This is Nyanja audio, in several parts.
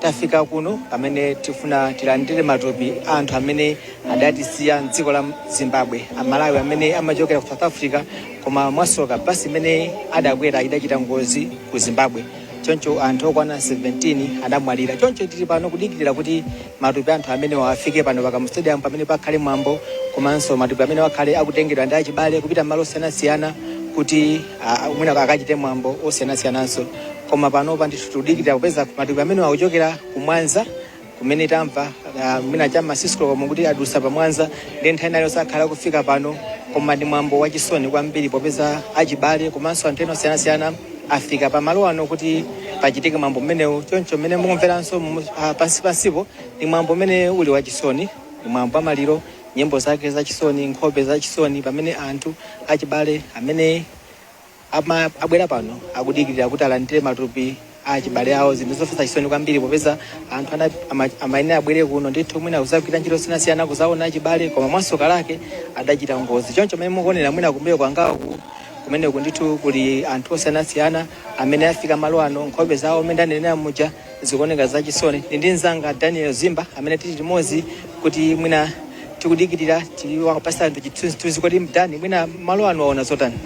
Tafika kuno pamene tifuna tilandire matupi a anthu amene adatisiya m'dziko la Zimbabwe, a Malawi amene amachokera ku South Africa koma mwasoka bus imene adakwera idachita ngozi ku Zimbabwe choncho anthu okwana 17 adamwalira. Choncho tili pano kudikirira kuti matupi a anthu amenewa afike pano pa Kamuzu Stadium pamene pakhale mwambo komanso matupi amenewa akhale akutengedwa ndi achibale kupita malo osiyanasiyana kuti mwina akachite mwambo osiyanasiyananso. koma panopa ndithu tikudikirira kupeza matupi amene akuchokera ku Mwanza kumene tamva ah, mwina cha ma six koloko mwe kuti adusa pa Mwanza nde nthawi ina iliyonse akhala akufika pano koma ndi mwambo wachisoni kwambiri popeza achibale komanso anthu ena osiyanasiyana afika pa malo ano kuti pachitike mwambo umenewu choncho mmene mukumveranso mu- ah, pansi pansipo ndi mwambo umene uli wachisoni ndi mwambo wa maliro nyimbo zake zachisoni nkhope zachisoni pamene anthu achibale amene Ama, abwera pano akudikirira kuti alandire matupi a achibale awo zinthu zomvetsa chisoni kwambiri popeza anthu ana- ama- amayenera abwere kuno ndithu mwina kuzagwira ntchito zosiyanasiyana kuzaona achibale koma mwasoka lake adachita ngozi choncho mmene mukuonera mwina kumbuyo kwangaku kumeneku ndithu kuli anthu osiyanasiyana amene afika m'malo ano nkhope zawo mmene ndanenera muja Zikuoneka za chisoni. Ndili ndi mzanga Daniel Zimba amene tili limodzi kuti mwina tikudikirira tiwapatse anthu chithunzithunzi kodi Dani mwina m'malo ano waona zotani.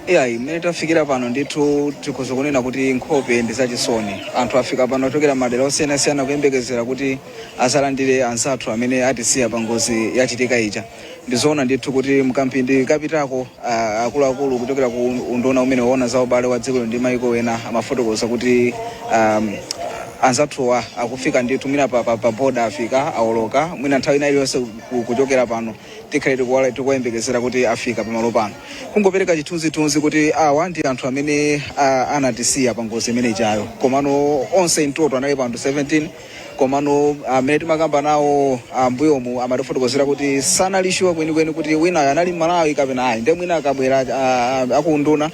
iyayi mmene tafikira pano ndithu tikhoza kunena kuti nkhope ndi zachisoni anthu afika pano ochokera madera osiyanasiyana kuyembekezera kuti azalandire anzathu amene atisiya pa ngozi yachitika ija Ndi zoona ndithu kuti m'kamphindi kapitako, a, akuluakulu kuchokera ku unduna umene umaona za ubale wa dziko lino ndi maiko ena amafotokoza kuti um, anzathuwa akufika ndithu mwina pa, pa, pa boda afika aoloka mwina nthawi ina iliyonse ku- kuchokera pano tikhale tikuwala- tikuwayembekezera kuti afika pamalo pano kungopereka chithunzithunzi kuti awa ndi anthu amene a, anatisiya pa ngozi imene ijayo komano onse mu total analipo anthu 17 komano amene timakamba nawo ambuyomu amatifotokozera kuti sanali sure kwenikweni kuti winayo anali mmalawi kapena ayi nde mwina akabwera ah, ah, akunduna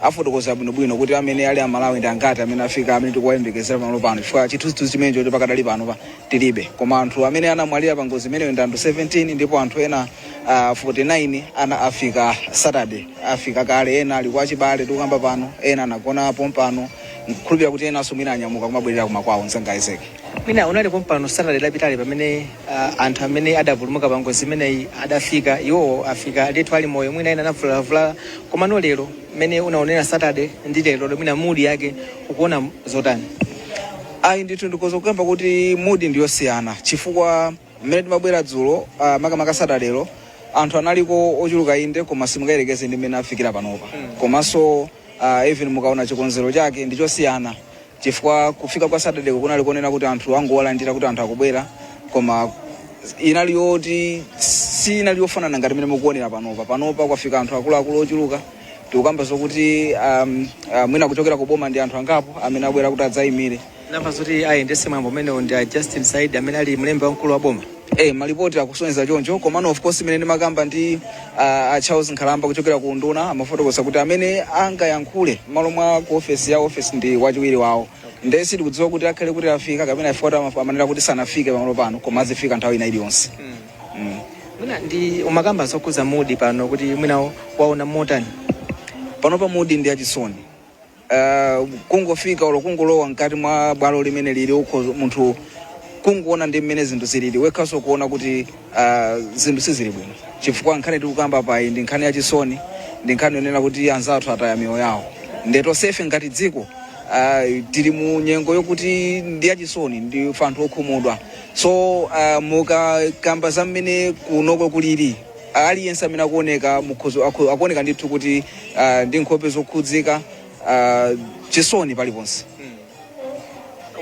afotokoza bwinobwino kuti amene ali amalawi ndi angati amene afika amene tikuwayembekezera pamalo pano chifukwa chithunzithunzi chimenecho choti pakadali pano pa tilibe koma anthu amene anamwalira pa ngozi imeneyo ndi anthu 17 ndipo anthu ena ah, 49 anafika Saturday afika kale ena ali kwa achibale tikukamba pano ena anagona pompano Ndikukhulupirira kuti enanso mwina anyamuka kumabwerera kumakwawo. Mzanga Isaac. Mwina unali pompano Saturday lapitali pamene uh, anthu amene adapulumuka pa ngozi imeneyi adafika, iwowo afika ndithu ali moyo, mwina ena anavulalavulala. Komano lero mmene unaonera Saturday ndi lero mwina mood yake ukuona zotani? Ayi ndithu ndikhoza kukamba kuti mood ndiyosiyana chifukwa mmene timabwera dzulo ah, makamaka Saturday anthu analiko ochuluka inde koma simungayerekeze ndi mmene afikira panopa komanso ah, even mukaona chikonzero chake ndi chosiyana chifukwa kufika kwa Saturday-ko kunali konena kuti anthu angowalandira kuti anthu akubwera koma inali yoti siinali yofanana ngati mmene mukuonera panopa panopa kwafika anthu akuluakulu ochuluka tikukamba zokuti um, uh, mwina kuchokera ku boma ndi anthu angapo amene abwera kuti adzayimire Ndamva zoti ayendese mwambo umenewu ndi a Justin Saidi amene ali mlembi wamkulu wa boma. Eh, malipoti akusonyeza choncho komano of course mmene ndimakamba ndi uh, a Charles Nkhalamba kuchokera ku unduna amafotokoza kuti amene angayankhule m'malo mwa ku ofesi ya ofesi ndi wachiwiri wawo ndiye sitikudziwa kuti akhale kuti afika kapena afika koma amaf- amanena kuti sanafike pamalo pano koma azifika nthawi ina iliyonse mm. Mwina Dani umakamba zokhudza mood pano kuti mwina waona motani. panopa mood ndi yachisoni uh, kungofika olo kungolowa mkati mwa bwalo limene lili uko munthu kungoona ndi mmene zinthu zilili wekhaso kuona kuti uh, zinthu sizili bwino chifukwa nkhani tikukamba payi ndi nkhani yachisoni ndi nkhani yonena kuti anzathu ataya miyoyo yawo nde tonsefe ngati dziko uh, tili mu nyengo yokuti ndi yachisoni ndi ife anthu okhumudwa so uh, mukakamba za mmene kunoko kulili ah, aliyense amene akuoneka mukhoza akho- akuoneka ndithu kuti ah, ndi nkhope zokhudzika ah, chisoni paliponse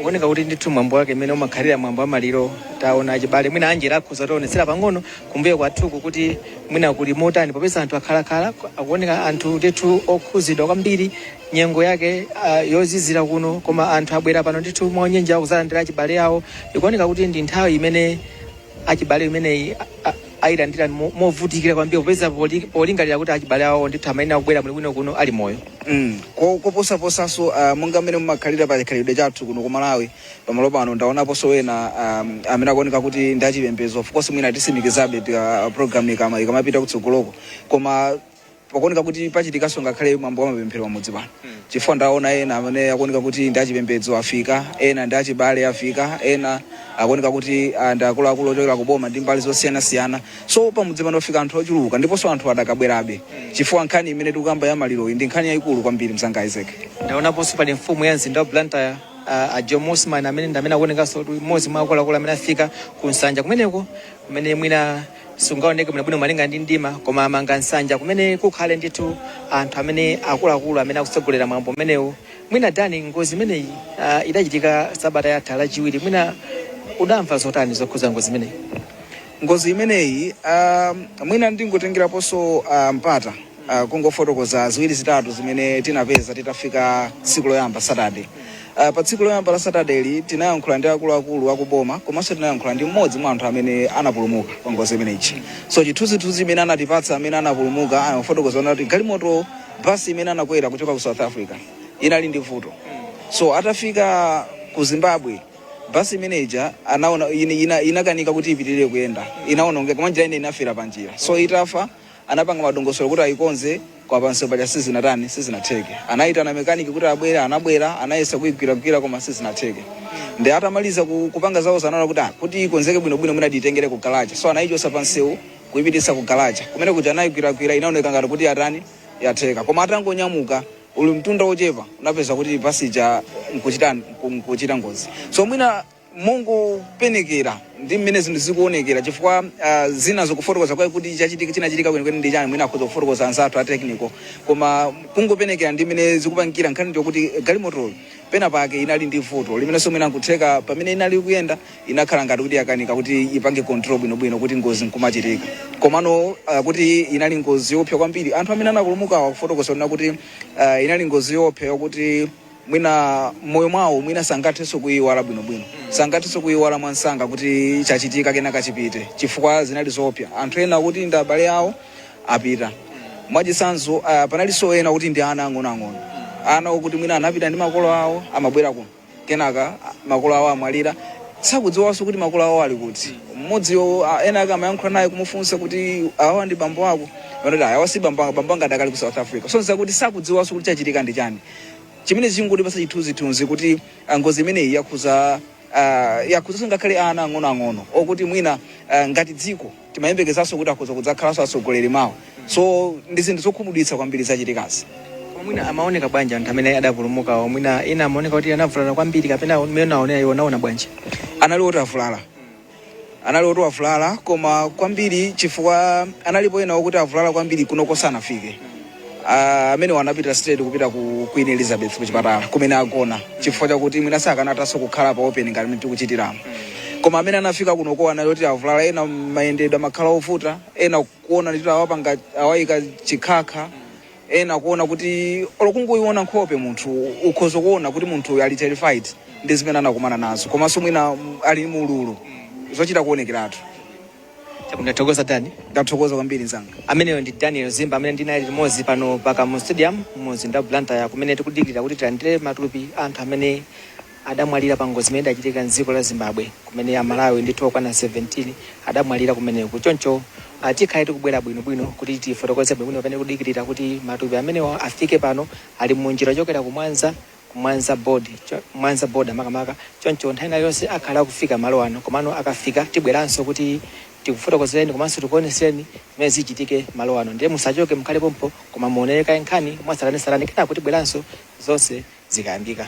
kuoneka kuti ndithu mwambo wake mmene umakhalira mwambo wamaliro taona achibale mwina Angela akhoza kutionetsera pang'ono kumbuyo kwathuku kuti mwina kuli motani popeza anthu akhalakhala akuoneka anthu ndithu okhuzidwa kwambiri nyengo yake ah, yozizira kuno koma anthu abwera pano ndithu mwaunyinji kuzalandira achibale awo ikuoneka kuti ndi nthawi imene achibale amenewa a- a- ayilandira mo- movutikira kwambiri popeza poli- polingalira kuti achibale awo ndithu amayenera kubwera muli bwino kuno ali moyo Mm. Ko- koposaposanso uh, monga mmene mumakhalira pa chikhalidwe chathu kuno ku malawi pamalo pano ndaonaponso ena um, amene akuoneka kuti ndi achipembedzo of course mwina tisimikizabe pa program ikama ikamapita kutsogoloko koma pakuoneka kuti pachitikanso ngakhale mwambo wa mapemphero pamudzi pano chifukwa ndaona ena amene akuoneka kuti ndi achipembedzo afika ena ndi achibale afika ena akuoneka kuti ah, ndi akuluakulu ochokera ku boma ndi mbali zosiyanasiyana so pamudzi pano pafika anthu ochuluka ndiponso anthu adakabwerabe chifukwa nkhani imene tikukamba ya maliroyi ndi nkhani yayikulu kwambiri mzanga isaac ndaonaponso pali mfumu ya mzinda wa blantyre uh, a jomo osman amene ndi amene akuonekanso kuti mmodzi mwa akuluakulu amene afika ku nsanja kumeneko kumene mwina sungaoneke bwinobwino malinga ndi mdima koma amanga nsanja kumene kukhale ndithu anthu amene akuluakulu amene akutsogolera mwambo umenewu mwina dani ngozi imeneyi uh, idachitika sabata yatha lachiwiri mwina udamva zotani zokhuza ngozi imeneyi ngozi imeneyi um, mwina ndingotengeraponso uh, mpata Uh, kungofotokoza ziwiri zitatu zimene tinapeza titafika tsiku loyamba Saturday. Uh, pa tsiku loyamba la Saturday lija tinayankhula ndi akuluakulu akuboma komanso tinayankhula ndi mmodzi mwa anthu amene anapulumuka pa ngozi imeneyi. So chithunzithunzi chimene anatipatsa amene anapulumuka anafotokoza kuti galimoto basi imene anakwera kuchoka ku South Africa inali ndi vuto. So atafika ku Zimbabwe basi imene ija anaona ina, ina, inakanika kuti ipitirire kuyenda inaonongeka mwanjira ine inafera panjira so itafa Anapanga madongosolo kuti ayikonze koma pansewu paja sizinatani, sizinatheke. Anayitana mechanic kuti abwere, anabwera, anayesa kuyigwiragwira koma sizinatheke. Nde atamaliza ku, kupanga zawozo anaona kuti ah, kuti ikonzeke bwinobwino mwina tiyitengere ku galaja. So anayichotsa pansewu kuyipititsa ku galaja. Kumene kuja anayigwiragwira inaoneka ngati kuti yatani, yatheka. Koma atangonyamuka ulimtunda wochepa anapeza kuti bus ija nkuchitani, nku- nkuchita ngozi. So mwina mongopenekera ndi mmene zinthu zikuonekera chifukwa uh, zina zokufotokoza kwa kuti chachitika chinachitika kwenikweni ndi chani mwina akhoza kufotokoza anzathu a technical koma kungopenekera ndi mmene zikupangikira nkhani ndi yokuti galimotoyo pena pake inali ndi vuto limenenso mwina nkutheka pamene inali kuyenda inakhala ngati kuti yakanika kuti ipange control bwinobwino kuti ngozi nkumachitika komano uh, kuti inali ngozi yoopsa kwambiri anthu amene anapulumukawa akufotokoza kuti uh, inali ngozi yoopsa yokuti mwina m'moyo mwawo mwina sangathenso kuiwala bwinobwino sangathenso kuiwala mwansanga kuti chachitikachi nachi chipite chifukwa zinali zoopsa anthu ena okuti ndi abale awo apita mwachitsanzo uh, panalinso ena okuti ndi ana ang'onoang'ono ana okuti mwina anapita ndi makolo awo amabwera kuno kenaka ah, makolo awo amwalira sakudziwanso kuti makolo awo ali kuti mmodziyo ah, ena ake amayankhula naye kumufunsa kuti awa ndi bambo ako anati awa si bambo anga bambo anga adakali ku south africa so n'zokuti sakudziwanso kuti chachitika ndi chani Chimenechi chikungotipatsa chithunzithunzi kuti ah, ngozi imeneyi yakhuza ah, yakhuzaso ngakhale ana ang'onoang'ono okuti mwina ah, ngati dziko timayembekezaso kuti akhoza kudzakhalaso atsogoleri mawa so ndi zinthu zokhumudwitsa kwambiri zachitikazi mwina amaoneka bwanji anthu amene adapulumukawo mwina ena amaoneka kuti anavulala kwambiri kapena mmene aonera iwo anaona bwanji anali oti avulala anali oti avulala koma kwambiri chifukwa analipo ena okuti avulala kwambiri kunoko sanafike Ah, amenewo anapita straight kupita ku queen elizabeth kuchipatala kumene agona chifukwa chakuti mwina sakanathanso kukhala pa open ngati mmene tikuchitiramu koma amene anafika kunoko anali oti avulala ena mayendedwe amakhala ovuta ena kuona kuti awapanga awayika chikhakha ena kuona kuti olo kungoiona nkhope munthu ukhoza kuona kuti munthu uyu ali terrified ndi zimene anakumana nazo komanso mwina mm, ali mu ululu zochita kuonekeratu ndathokoza dani ndathokoza kwambiri mzanga ameneyo ndi daniel zimba amene ndinali limodzi pano pa kamuzu stadium mu mzinda wa blantyre kumene tikudikirira kuti tilandire matupi a anthu amene adamwalira pa ngozi imene idachitika m'dziko la Zimbabwe kumene Amalawi ndithu okwana 17 adamwalira kumeneko. Choncho ah, tikhale tikubwera bwinobwino kuti tifotokoze bwinobwino pamene tikudikirira kuti matupi amenewa afike pano ali mu njira yochokera ku Mwanza ku Mwanza board cho- Mwanza border makamaka. Choncho nthawi ina iliyonse akhala akufika malo ano komano akafika tibweranso kuti tikufotokozereni komanso tikuoneseni zimene zichitike malo ano. Ndiye musachoke mukhale pompo koma muonere kaye nkhani mwatsatanetsatane kenako tibweranso zonse zikayambika.